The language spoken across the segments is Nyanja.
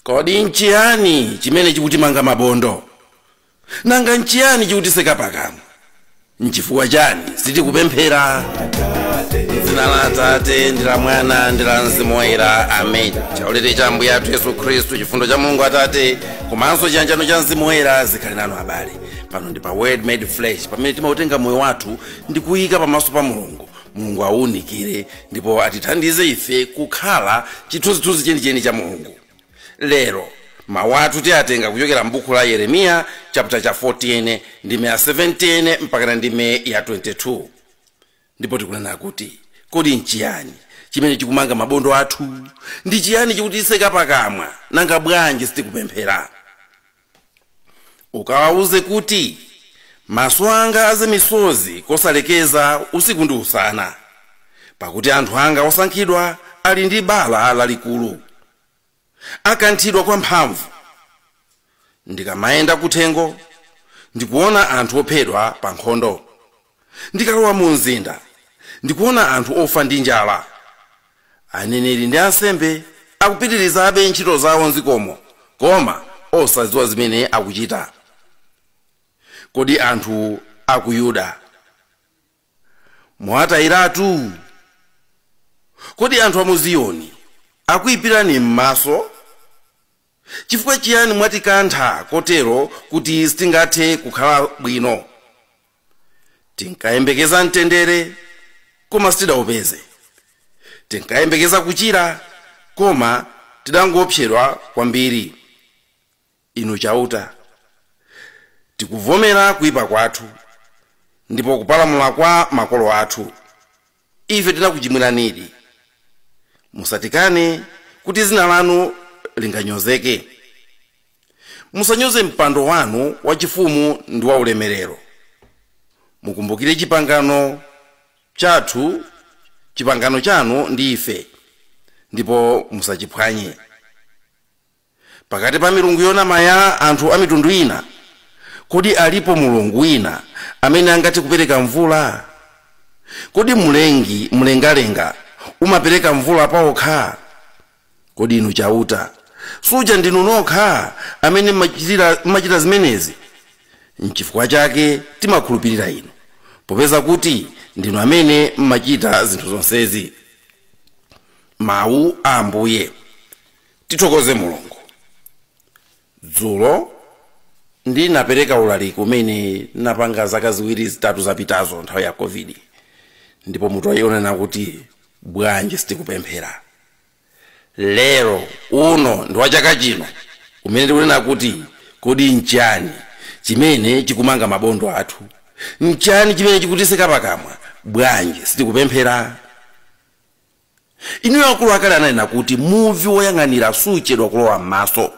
kodi nchiyani chimene chikutimanga mabondo nanga nchiyani chikutitseka pakamwa nchifukwa chani sitikupemphera m'dzina la atate ndi la mwana ndi la mzimu woyera amen chaulere cha ambuye athu yesu khristu chifundo cha mulungu atate komanso chiyanjano cha mzimu woyera zikhale nanu abale pano ndi pa word made flesh pamene timautenga moyo wathu ndi kuyika pamaso pa mulungu mulungu awuwunikire ndipo atithandize ife kukhala chithunzithunzi chenicheni cha mulungu lero mawu athu tiyatenga kuchokera m'buku la yeremiya chaputala cha 14 ndime ya 17 mpakana ndime ya 22 ndipo tikunena kuti kodi nchiyani chimene chikumanga mabondo athu ndi chiyani chikutitseka pakamwa nanga bwanji sitikupemphera ukawauze kuti maso anga aze misozi kosalekeza usiku ndi usana pakuti anthu anga osankhidwa ali ndi bala lalikulu akanthidwa kwamphamvu ndikamayenda kuthengo ndikuona anthu ophedwa pa nkhondo Ndikalowa mumzinda, ndikuona anthu ofa ndi njala. Aneneri ndi ansembe akupitirizabe ntchito zawo m'dzikomo koma osadziwa zimene akuchita. Kodi anthu a ku Yuda mwawatayiratu? Kodi anthu a mu Ziyoni akuipirani m'maso? Chifukwa chiyani mwatikantha kotero kuti sitingathe kukhala bwino? Tinkayembekeza mtendere, koma sitidaupeze. Tinkayembekeza kuchira, koma tidangoopsedwa kwambiri. Inu Chauta, tikuvomera kuipa kwathu, ndipo kupalamula kwa makolo athu. Ife tinakuchimwiranidi. Musatikane kuti dzina lanu linganyozeke. Musanyoze mpando wanu wachifumu ndi waulemerero. Mukumbukire chipangano chathu, chipangano chanu ndi ife, ndipo musachiphwanye. Pakati pa milungu yonama ya anthu a mitundu ina, kodi alipo mulungu wina amene angathe kupereka mvula? Kodi Mlengi mlengalenga umapereka mvula paokha? Kodi Inu Chauta, suja ndinu nokha amene mmachitira mmachita zimenezi? Nchifukwa chake timakhulupirira Inu, popeza kuti ndinu amene mmachita zinthu zonsezi. Mau a Ambuye. tithokoze mulungu dzulo ndinapereka ulaliki umene ndinapanga zaka ziwiri zitatu zapitazo nthawi ya covid ndipo mutu unali wonena kuti bwanji sitikupemphera lero uno ndi wa chaka chino umene tikunena kuti kodi nchani chimene chikumanga mabondo athu nchani chimene chikutiseka pakamwa bwanji sitikupemphera Inuyo akulu akale ananena kuti muvi woyang'anira suchedwa kulowa m'maso.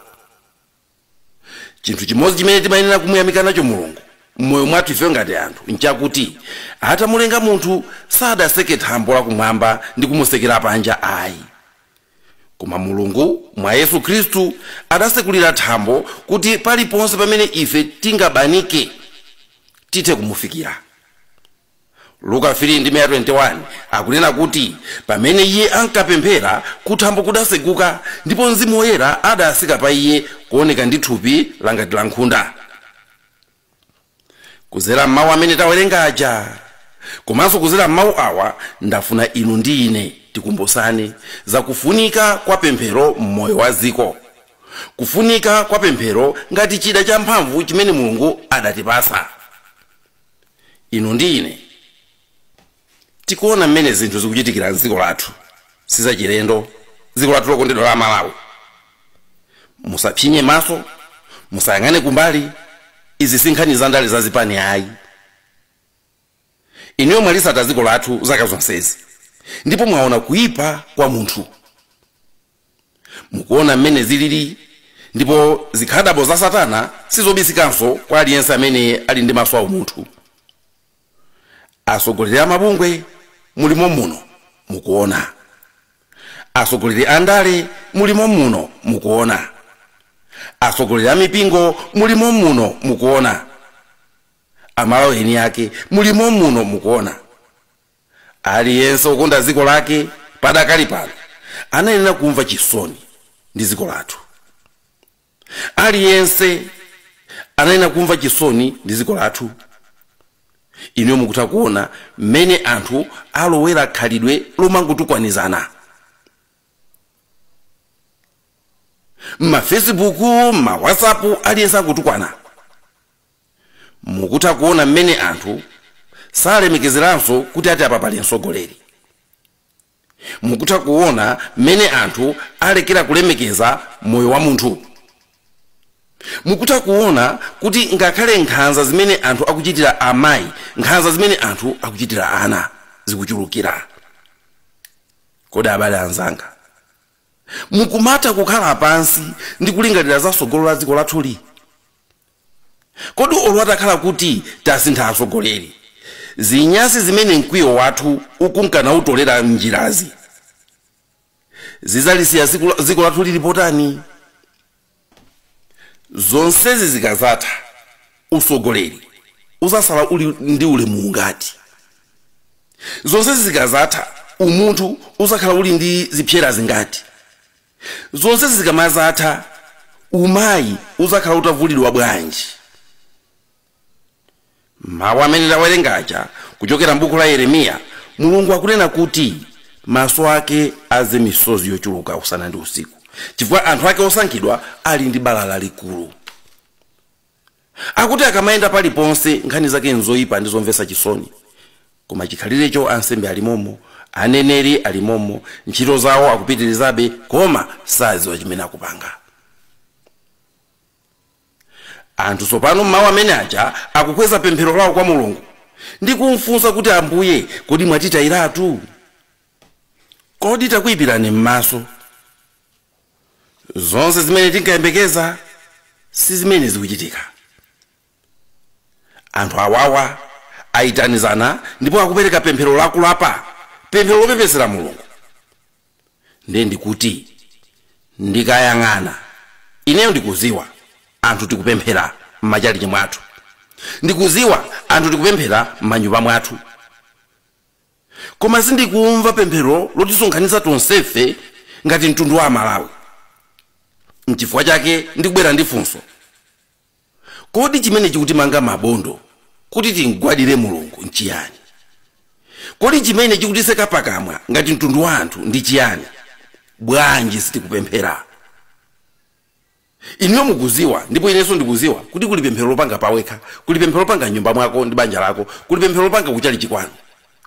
Chinthu chimodzi chimene timayenera kumuyamika nacho Mulungu m'moyo mwathu ifeyo ngati anthu n'chakuti atamulenga munthu sadaseke thambo lakumwamba ndi kumusekera panja ayi. Koma Mulungu mwa Yesu Khristu adasekulira thambo kuti paliponse pamene ife tingapanike tithe kumufikira. luka 3 ndime ya 21 akunena kuti pamene iye ankapemphera kuthambo kudaseguka ndipo mzimu woyera adasika pa iye kuoneka ndi thupi langati la nkhunda kuzera m'mawu amene tawerenga aja komanso kuzera m'mawu awa ndafuna inu ndi ine tikumbusane zakufunika kwa pemphero m'moyo wa dziko kufunika kwa pemphero ngati chida champhamvu chimene mulungu adatipasa inu ndi ine tikuona mmene zinthu zikuchitikira mdziko lathu sizachilendo dziko lathu lokondedwa la malawi musatsinzine maso musayang'ane kumbali izi si nkhani za ndale za zipani ayi inuyo mwalisata dziko lathu zaka zonsezi ndipo mwaona kuipa kwa munthu Mukuona mmene zilili? Ndipo zikhadabo za Satana sizobisikanso kwa aliyense amene ali ndi maso aumunthu. Atsogoleri a mabungwe, mulimo muno, mukuona. Atsogoleri a ndale, mulimo muno, mukuona. Atsogoleri a mipingo, mulimo muno, mukuona. Amalawi eni ake, mulimo muno, mukuona. aliyense wokonda dziko lake padakali pano anayenera kumva chisoni ndi dziko lathu aliyense anayenera kumva chisoni ndi dziko lathu inuyo mukutha kuona mmene anthu alowera khalidwe lomangotukwanizana mmafacebook mmawhatsapp aliyense angotukwana Mukutha kuona mmene anthu salemekezeranso kuti ati apa pali mtsogoleri. Mukutha kuona mmene anthu alekera kulemekeza moyo wa munthu. Mukutha kuona kuti ngakhale nkhanza zimene anthu akuchitira amayi, nkhanza zimene anthu akuchitira ana zikuchulukira. Kodi abale anzanga, mukumatha kukhala pansi ndi kulingalira za tsogolo la dziko lathuli? Kodi olo atakhala kuti tasintha atsogoleri, zinyasi zimene mkwiyo wathu ukunka nautolera m'njirazi, zidzalisiya dziko lathu lili potani? Zonsezi zikadzatha, utsogoleri udzasala uli ndi ulemu ungati? Zonsezi zikadzatha, umunthu udzakhala uli ndi zipsera zingati? Zonsezi zikamazatha umayi uzakhala utavulidwa bwanji? Mawu amene tawerenga aja kuchokera m'buku la Yeremiya, Mulungu akunena kuti maso ake aze misozi yochuluka usana ndi usiku chifukwa anthu ake osankhidwa ali ndi bala lalikulu. Akuti akamayenda paliponse nkhani zake nzoipa ndi zomvetsa chisoni. Koma chikhalirecho ansembe ali momo, aneneri ali momo, ntchito zawo akupitirizabe koma sadziwa chimene akupanga. Anthu tsopano m'mawu amene aja akukweza pemphero lawo kwa Mulungu ndi kumfunsa kuti, Ambuye, kodi mwatitayiratu? Kodi takuipirani m'maso? zonse zimene tinkayembekeza si zimene zikuchitika anthu awawa ayitanizana ndipo akupereka pemphero lakulapa pemphero lopepesera mulungu ndiye ndikuti ndikayang'ana ineyo ndikuziwa anthu tikupemphera m'machalichi mwathu ndikuziwa anthu tikupemphera m'manyumba mwathu Koma sindikumva pemphero lotisonkhanitsa tonsefe ngati mtundu wa Amalawi. N'chifukwa chake ndikubwera ndi funso, Kodi chimene chikutimanga mabondo kuti tim'gwadire Mulungu n'chiyani? Kodi chimene chikutitseka pakamwa ngati mtundu wa anthu ndi chiyani? Bwanji sitikupemphera? Inuyo mukuziwa, ndipo inenso ndikuziwa, kuti kuli pemphero lopanga pawekha, kuli pemphero lopanga m'nyumba mwako ndi banja lako, kuli pemphero lopanga kuchalichi kwanu.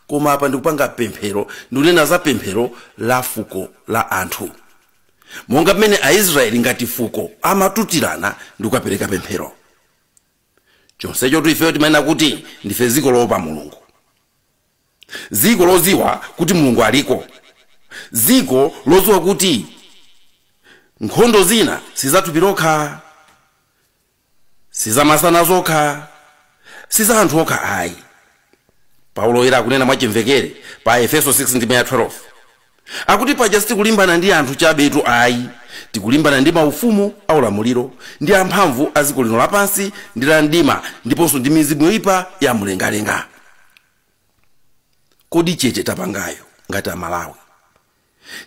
Koma apa ndikupanga pemphero, ndikunena za pemphero la fuko la anthu. Monga m'mene a Israyeli ngati fuko amatutirana ndi kukapereka pemphero. Chonsechotu ifeyo timanena kuti ndife dziko loopa Mulungu. dziko lodziwa kuti Mulungu aliko, dziko lodziwa kuti nkhondo zina si za thupi lokha, si za masana zokha, si za anthu okha ayi. Paulo Woyera akunena mwachimvekere pa Aefeso 6:12 Akuti paja sitikulimbana ndi anthu chabetu ayi, tikulimbana ndi maufumu aulamuliro, ndi amphamvu a dziko lino lapansi lino la mdima, ndiponso ndi mizimu yoipa ya m'mlengalenga. Kodi chete tapangayo ngati Amalawi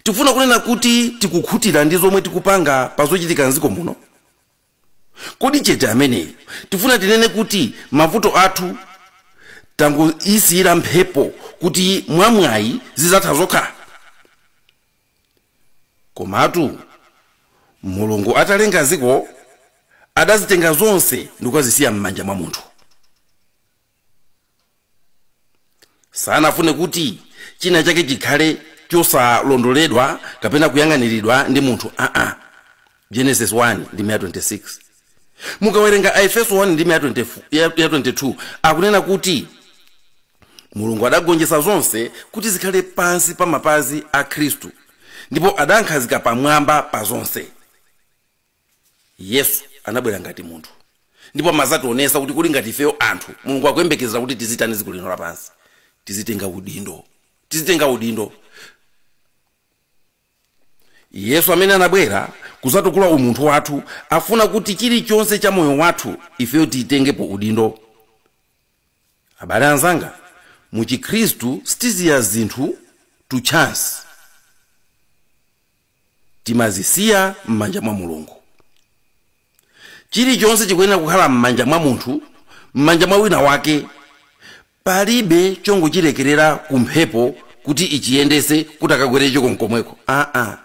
tikufuna kunena kuti tikukhutira ndi zomwe tikupanga pa zochitika m'dziko muno? Kodi chete ameneyo tifuna tinene kuti mavuto athu tangoyisiyira mphepo kuti mwa mwayi zizatha zokha? Komatu Mulungu atalenga dziko adazitenga zonse ndikuzisiya mmanja mwa munthu. sanafune kuti china chake chikhale chosalondoledwa kapena kuyang'aniridwa ndi munthu aa genesis 1:26 mukawerenga aefeso 1:22 akunena kuti mulungu adagonjetsa zonse kuti zikhale pansi pa mapazi a khristu ndipo adankhazika pamwamba pa zonse yesu anabwera ngati munthu ndipo amazationesa kuti kodi ngati ifeyo anthu mulungu akuyembekezera kuti tizitani dziko lino lapansi tizitenga udindo yesu amene anabwera kuzatukula umunthu wathu afuna kuti chilichonse cha moyo wathu ifeyo tiyitengepo udindo abale anzanga mu chikhristu sitisiya zinthu to chance timazisiya m'manja mwa mulungu chilichonse chikuyenera kukhala m'manja mwa munthu m'manja mwa wina wake palibe chongochilekerera ku mphepo kuti ichiyendese kuti kukagwere icho nkomweko aa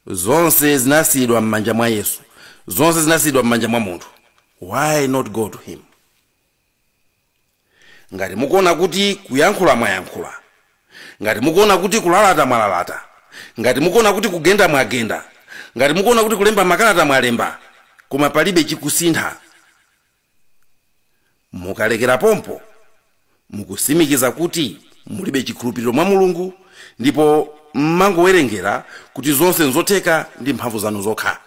zonse zinasiyidwa m'manja mwa yesu zonse zinasiyidwa m'manja mwa munthu why not go to him ngati mukuona kuti kuyankhula mwayankhula ngati mukuona kuti kulalata mwalalata ngati mukuona kuti kugenda mwagenda ngati mukuona kuti kulemba makalata mwalemba koma palibe chikusintha mukalekera pompo mukusimikiza kuti mulibe chikhulupiriro mwa mulungu ndipo mmangowerengera kuti zonse nzotheka ndi mphamvu zanu zokha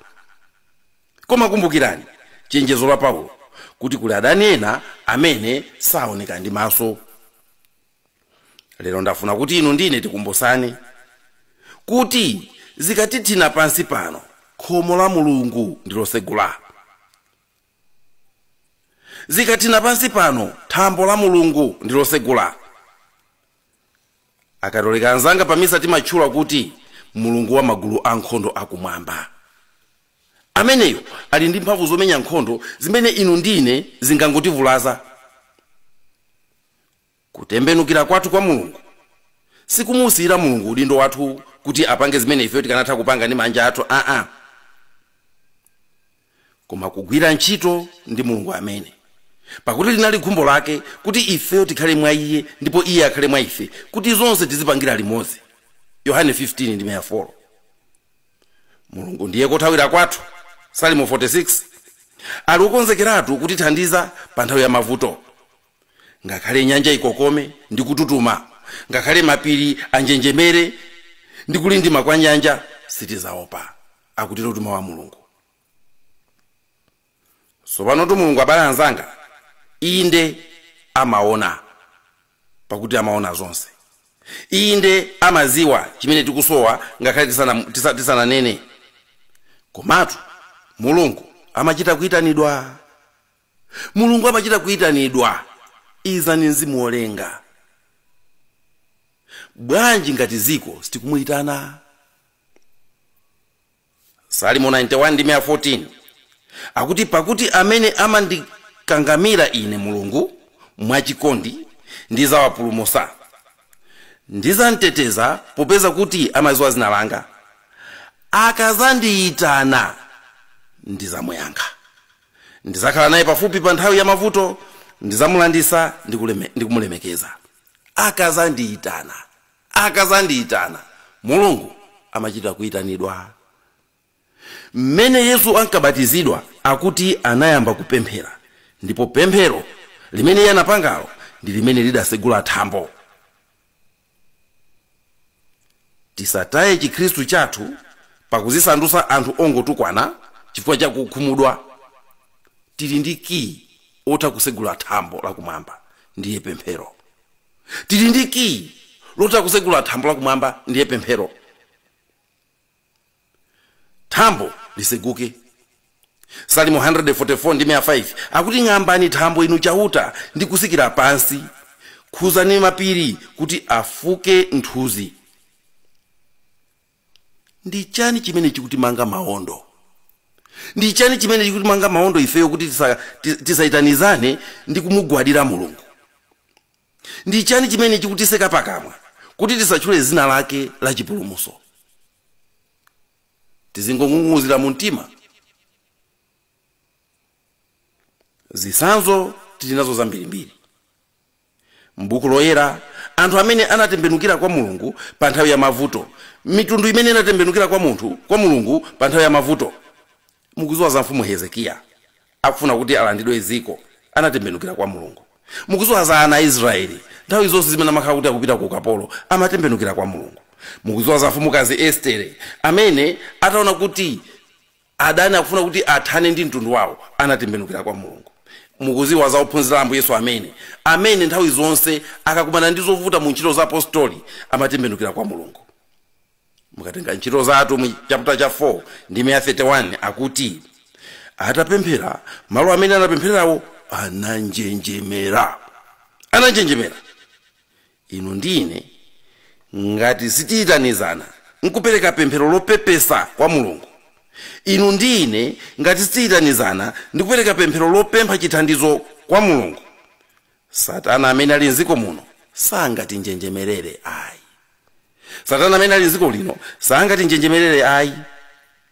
koma kumbukirani chenjezo la paulo kuti kuli adani ena amene saoneka ndi maso lero ndafuna kuti inu ndine tikumbusane kuti zikatithina pansi pano khomo la mulungu ndilosegula zikathina pansi pano thambo la mulungu ndilosegula akatolika anzanga pamisa timatchula kuti mulungu wa magulu ankhondo akumwamba Ameneyo ali ndi mphamvu zomenya nkhondo zimene inu ndi ine zingangotivulaza. Kutembenukira kwathu kwa Mulungu sikumuusiyira Mulungu udindo wathu kuti apange zimene ifeyo tikanatha kupanga ndi manja athu aa, koma kugwira ntchito ndi Mulungu amene. Pakuti linali khumbo lake kuti ifeyo tikhale mwa Iye ndipo Iye akhale mwa ife, kuti zonse tizipangira limodzi. Yohane 15 ndime ya 4. mulungu ndiye kothawira kwathu salimo 46 ali okonzekeratu kutithandiza pa nthawi ya mavuto ngakhale nyanja ikokome ndi kututuma ngakhale mapiri anjenjemere ndi kulindima kwa nyanja sitizaopa akutero mtuma wa mulungu tsopanotu mulungu abale anzanga inde amaona pakuti amaona zonse inde amaziwa chimene tikusowa ngakhale tisana- tisa- tisananene komatu mulungu amachita kuyitanidwa mulungu amachita kuyitanidwa izani mzimu wolenga bwanji ngati ziko sitikumuyitana salimo 91 ndime ya 14 akuti pakuti amene amandikangamira ine mulungu mwachikondi ndizawapulumusa ndizamteteza popeza kuti amaziwa zina langa akazandiyitana ndizamuyankha ndizakhala naye pafupi pa nthawi ya mavuto ndizamulandisa ndikuleme- ndikumulemekeza akazandiyitana akadzandiitana, Mulungu amachita kuitanidwa. M'mene Yesu ankabatizidwa akuti anayamba kupemphera ndipo pemphero limene iye anapangalo ndi limene lidasegula thambo. Tisataye chikhristu chathu pakuzisandutsa anthu ongotukwana chifukwa cha kukhumudwa. Tili ndi kiyi wotha kusegula thambo la kumwamba ndiye pemphero. tili ndi kiyi lotha kusegula thambo la kumwamba ndiye pemphero thambo liseguke salimo 144 ndi 5 akuti ng'ambani thambo inu chauta ndi kusikira pansi khuzani mapiri kuti afuke nthunzi ndi chani chimene chikutimanga maondo ndi chani chimene chikutimanga maondo ifeyo kuti tisa- ti- tisaitanizane ndi kumugwadira mulungu ndi chani chimene chikutiseka pakamwa kuti tisatchule zina lake la chipulumuso tizingong'ung'uzira mu mtima zisanzo tili nazo zambirimbiri m'buku loyera anthu amene anatembenukira kwa mulungu pa nthawi ya mavuto mitundu imene inatembenukira kwa mulungu pa nthawi ya mavuto mukuziwa za mfumu hezekiya akufuna kuti alandidwe dziko anatembenukira kwa mulungu mukuziwa za ana a israeli nthawi zonse zimene amakhala kuti akupita ku ukapolo amatembenukira kwa mulungu mukuziwa za mfumukazi estere amene ataona kuti Adani akufuna kuti athane ndi mtundu wawo anatembenukira kwa Mulungu. Mukuziwa za ophunzira a Ambuye Yesu amene amene nthawi zonse akakumana ndi zovuta mu ntchito za apositoli amatembenukira kwa Mulungu. Mukatenga ntchito za atumwi chaputa cha 4 ndime ya 31 akuti atapemphera malo amene anapempherawo ananjenjemera. Ananjenjemera! inu ndi ine ngati sitiyitanizana nkupereka pemphero lopepesa kwa mulungu inu ndi ine ngati sitiyitanizana ndi kupereka pemphero lopempha chithandizo kwa mulungu satana amene ali mdziko muno sangatinjenjemerere ayi satana amene ali mdziko lino sangatinjenjemerere ayi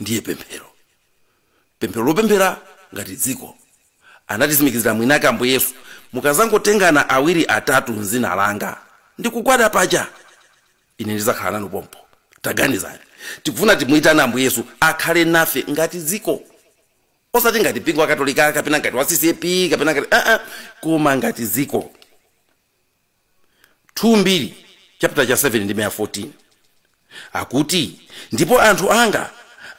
ndiye pemphero pemphero lopemphera ngati dziko anatisimikizira mwinake ambuye yesu mukazangotengana awiri atatu mzina langa ndikugwada paja ine ndizakhala nanu pompo taganizani tikufuna timuyitane ambuye yesu akhale nafe ngati dziko osati ngati mpingo wakatolika kapena ngati wa ccap kapena ngati aa koma ngati dziko 2 Mbiri chaputala cha 7 ndime ya 14 akuti, Ndipo anthu anga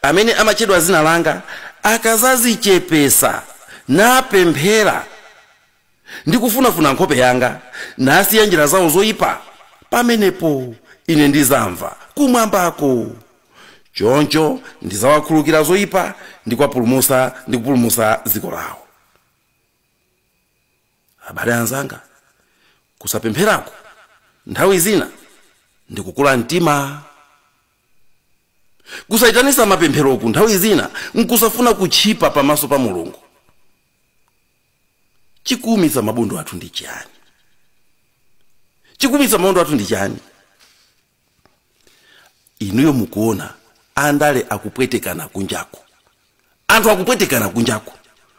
amene amatchedwa dzina langa akazazichepesa, napemphera, ndi kufunafuna nkhope yanga, nasiya njira zawo zoipa, pamenepo Ine ndizamva kumwambako, choncho ndizawakhululukira zoipa ndi kwapulumusa ndi kupulumusa dziko lawo. Abale anzanga, kusapempheraku nthawi zina ndi kukula mtima. Kusaitanitsa mapempheroku nthawi zina nkusafuna kutchipa pamaso pa Mulungu. Chikuumitsa mabondo athu ndi chiyani? Chikuumitsa mabondo athu ndi chiyani? inuyo mukuona andale akupwetekana kunjaku anthu akupwetekana kunjaku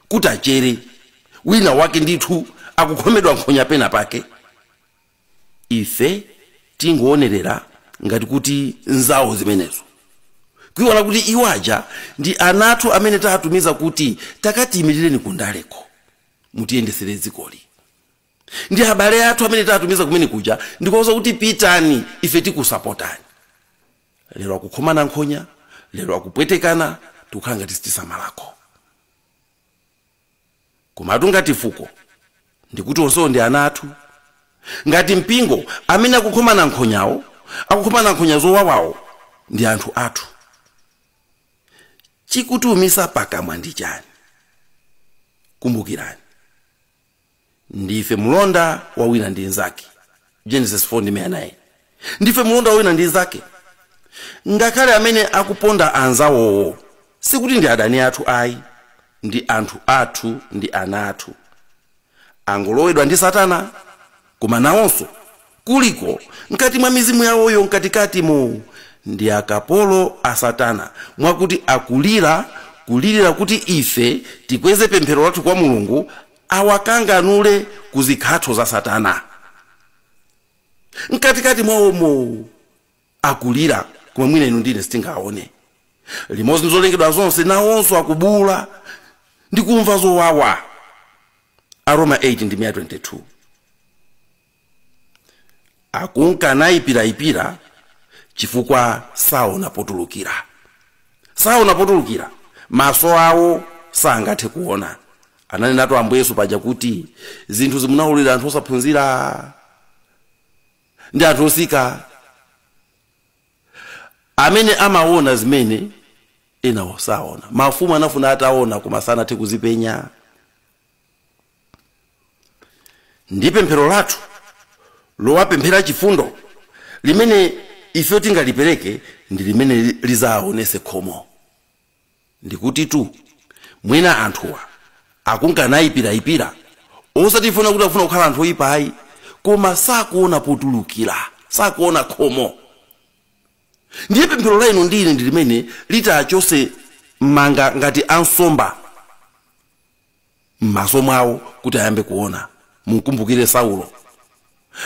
kuti achere wina wake ndithu akukhomedwa nkhonya pena pake ife tingoonerera ngati kuti nzawo zimenezo kuiwala kuti iwo aja ndi ana athu amene taatumiza kuti takatiyimirireni kundaleko mutiyendesere dzikoli ndi abale athu amene tatumiza kumene kuja ndikuwauza kuti pitani ife tikusapotani lero akukhomana nkhonya lero akupwetekana tikukhala ngati sitisamalako komatu ngati fuko ndikuti onsewo ndi ana athu ngati mpingo amene akukhomana nkhonyawo akukhomana nkhonya zowawawo ndi anthu athu chikutiumitsa pakamwa ndi chani kumbukirani ndife mulonda wa wina ndi nzake genesis 4 ndime 9 ndife mulonda wa wina ndi nzake ngakhale amene akuponda anzawowo sikuti ndi adani athu ayi ndi anthu athu ndi ana athu angolowedwa ndi satana koma nawonso kuliko mkati mwa mizimu yawoyo mkatikatimo ndi akapolo a satana mwakuti akulira kulirira kuti ife tikweze pemphero lathu kwa mulungu awakanganule ku zikhatho za satana mkatikati mwawomo akulira koma mwina inu ndine sitingaone limodzi ndi zolengedwa zonse nawonso akubuula ndi kumva zowawa aroma 8 ndime 22 akunka nayipirayipira chifukwa saona potulukira saona potulukira maso awo sangathe kuona ananenatu ambuye yesu paja kuti zinthu zimene munaulira anthu osaphunzira ndi anthu otsika amene amaona zimene enawo saona mafumu anafuna ataona koma sanathe kuzipenya ndi pemphero lathu lowapemphera chifundo limene ife tingalipereke ndi limene lizaonese khomo ndikutitu mwina anthuwa akunka nayipirayipira osatitu kuti afuna kukhala anthu oyipa ayi koma sakuona potulukira sakuona khomo ndiye pemphero la inu ndi ine ndi limene litachose mamba ngati a nsomba m'maso mwawo kuti ayambe kuona mumkumbukire saulo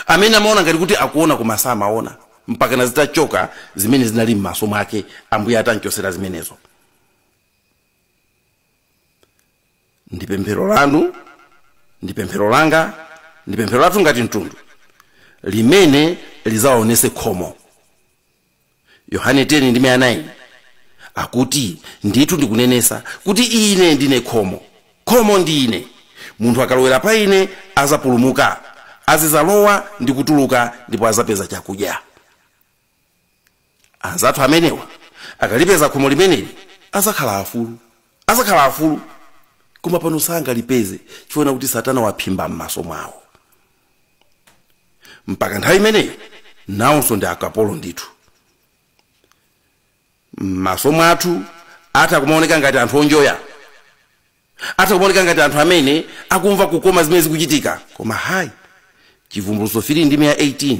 amene amaona ngati kuti akuona koma samaona mpakana zitachoka zimene zinali m'maso mwake ambuye atanchosera zimenezo ndi pemphero lanu ndi pemphero langa ndi pemphero lathu ngati mtundu limene lizaonese khomo Yohane 10 ndime ya 9 akuti, Ndithu ndikunenesa kuti ine ndine khomo, khomo ndi ine, munthu akalowera pa ine azapulumuka, azizalowa ndi kutuluka ndipo azapeza chakudya. Anzathu amenewa akalipeza khomo limeneli azakhala afulu, azakhala afulu, koma pano sangalipeze chifukwa kuti Satana waphimba m'maso mwawo. mpaka nthawi imeneyi nawonso ndi akapolo ndithu m'maso mwathu atha kumaoneka ngati anthu onjoya atha kumaoneka ngati anthu amene akumva kukoma zimene zikuchitika koma hayi chivumbulutso 3 ndime ya 18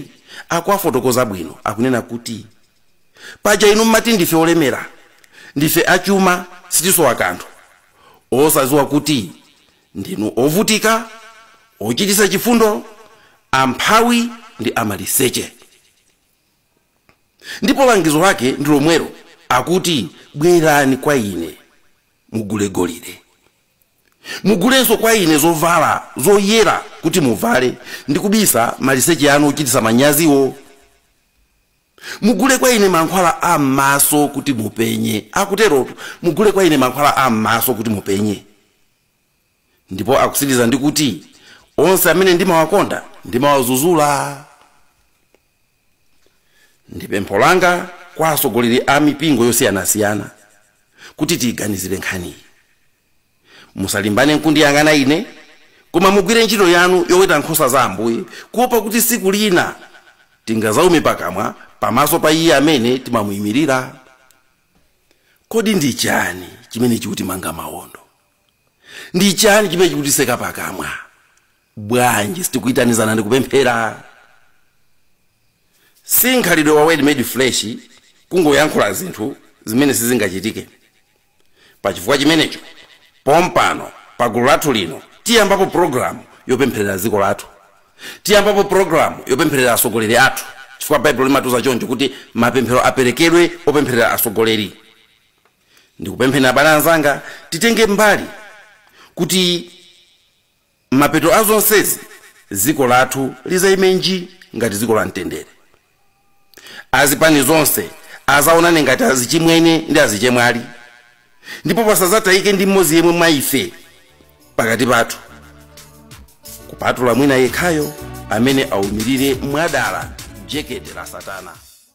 akuwafotokoza bwino akunena kuti paja inu mmati ndife olemera ndife achuma sitisowa kanthu osadziwa kuti Ndinu ovutika, ochititsa chifundo, amphawi ndi amaliseche. Ndipo langizo lake ndi lomwelo, akuti, Bwerani kwa ine, mugule golide. Mugulenso kwa ine zovala zoyera kuti muvale ndi kubisa maliseche anu ochititsa manyaziwo. mugule kwa ine mankhwala a m'maso kuti mupenye akuterotu mugule kwa ine mankhwala a m'maso kuti mupenye ndipo akusiriza ndi kuti onse amene ndimawakonda ndimawazuzula ndi pempho langa kwa atsogoleri a mipingo yosiyanasiyana kuti tiyiganizire nkhaniyi Musalimbane n'kundiyang'ana ine, koma mugwire ntchito yanu yoweta nkhosa za Ambuye, kuopa kuti tsiku lina tingadzaume pakamwa pamaso pa iye amene timamuimirira. Kodi ndi chiyani chimene chikutimanga mawondo? Ndi chiyani chimene chikutiseka pakamwa? Bwanji sitikuitanizana ndi kupemphera? Si mkhalidwe wa Word Made Flesh kungoyankhula zinthu zimene sizingachitike. Pa chifukwa chimenecho, pompano, pa gulu lathu lino, tiyambapo programu yopempherera dziko lathu. Tiyambapo programu yopempherera atsogoleri athu, chifukwa Baibulo limatiuza choncho kuti mapemphero aperekedwe opempherera atsogoleri. Ndikupempheni abale anzanga, titenge mbali kuti. Mapeto a zonsezi dziko lathu lizaimenji ngati dziko la mtendere. Azipani zonse azaonane ngati azichimwene ndi azichemwali ndipo pasazatayike ndi mmodzi yemwe mwa ife pakati pathu kupatula mwina yekhayo amene aumirire mwadala jekete la satana.